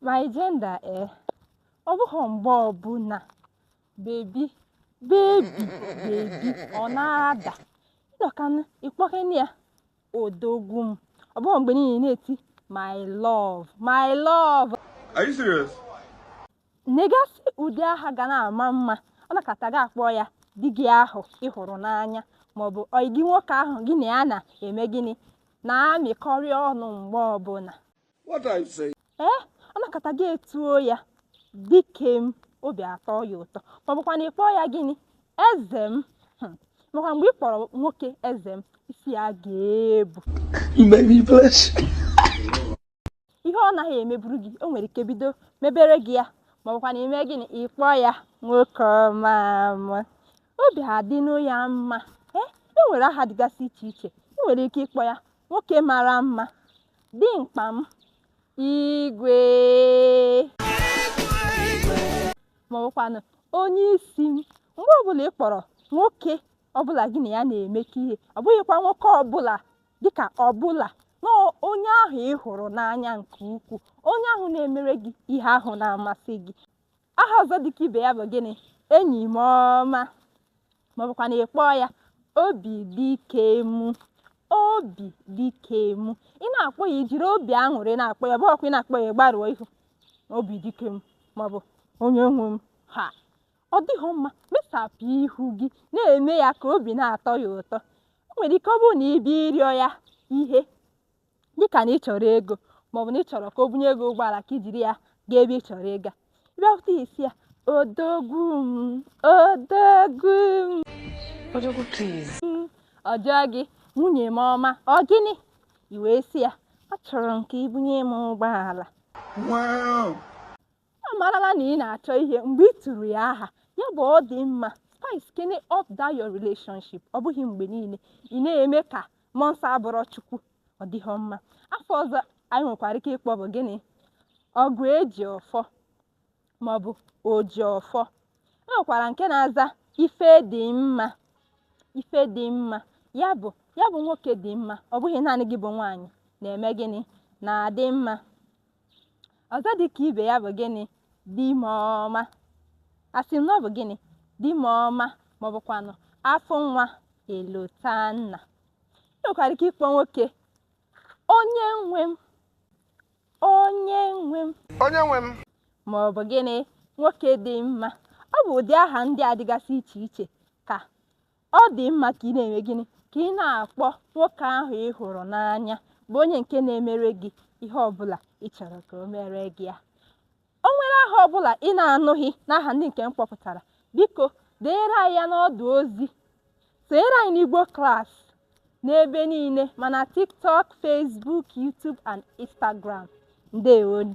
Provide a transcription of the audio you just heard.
My gender eh, ọ bụghị mgbe ọbụla baby baby baby ọ na-ada ị nọkanụ ị kpọkene ya odogwu m ọ bụghị mgbe niile na-eti my love my love Are you serious? Nyegasị ụdị aha ga na-ama mma, ọ nọkata gị akpọọ ya di gị ahụ ị hụrụ n'anya maọbụ ọyị gị nwoke ahụ gị na ya na-eme gịnị na-emekọrị ọnụ mgbe ọbụla. What are you saying? Ee, ọ nọkata gị etuo ya dike m, obi atọ ya ụtọ maọbụkwanụ ị kpọọ ya gịnị eze m hmm. makwa mgbe ị kpọrọ nwoke eze m isi ya ga-ebu. You make me blush. ihe ọ naghị emeburu gị o nwere ike bido mebere gị ya maọbụkwanụ i mee gịnị ị kpọọ ya nwoke ọma m obi adịnụ ya mma ee e nwere aha dịgasị iche iche ị nwere ike ịkpọ ya nwoke mara mma dimkpa m igwe maọbụkwanụ onye isi m mgbe ọbụla ị kpọrọ nwoke ọbụla gị na ya na-emekọ ihe ọ bụghịkwa nwoke ọbụla dịka ọbụla na onye ahụ ị hụrụ n'anya nke ukwuu onye ahụ na-emere gị ihe ahụ na-amasị gị aha ọzọ dịka ibe ya bụ gịnị enyi m ọma maọbụkwanụ ị kpọọ ya obi dike mụ obi dike mụ ị na-akpọ ya i jiri obi aṅụrị na-akpọ ya ọ bụghịkwa ị na-akpọ ya gbaruo ihu obi dike m maọbụ onye nwe m ha ọ dịghị mma mesapụ ihu gị na-eme ya ka obi na-atọ ya ụtọ o nwere ike ọ bụrụ na ị bịa ịrịọ ya ihe dịka na ị chọrọ ego maọbụ na ị chọrọ ka o bunye gị ụgbọala ka i jiri ya gaa ebe ị chọrọ ịga bịakwute ị sị ya odogwu m odogwu m odogwu please ọ jụọ gị nwunye m ọma ọ gịnị i wee sị ya achọrọ m ka i bunye m ụgbọala ọ marala na ị na-achọ ihe mgbe i turu ya aha ya bụ ọ dị mma spice kene up that your relationship ọ bụghị mgbe niile ị na-eme ka mmụọ nsọ abụrọ chukwu ọ dịghọ mma afa ọzọ anyị nwekwara ike ịkpọ bụ gịnị ọgụ eji ọfọ maọbụ oji ọfọ e nwekwara nke na-aza ife dị mma ife dị mma ya bụ ya bụ nwoke dị mma ọ bụghị naanị gị bụ nwaanyị na-eme gịnị na-adị mma ọzọ dị ka ibe ya bụ gịnị di m ọma asị m na ọ bụ gịnị di m ọma ma ọ bụkwanụ afụ nwa elota nna ị nwekwara ike ịkpọ nwoke onye nwe m onye nwe m onye nwe m ma ọ bụ gịnị nwoke dị mma ọ bụ ụdị aha ndị a dịgasị iche iche ka ọ dị mma ka ị na-eme gịnị ka ị na-akpọ nwoke ahụ ị hụrụ n'anya bụ onye nke na-emere gị ihe ọbụla ị chọrọ ka o mere gị ya o nwere aha ọbụla ị na-anụghị n'aha ndị nke m kpọpụtara biko denyere anyị ya n'ọdụ ozi sonyere anyị n'igbo class n'ebe niile ma na tiktok facebook youtube and instagram ndewonu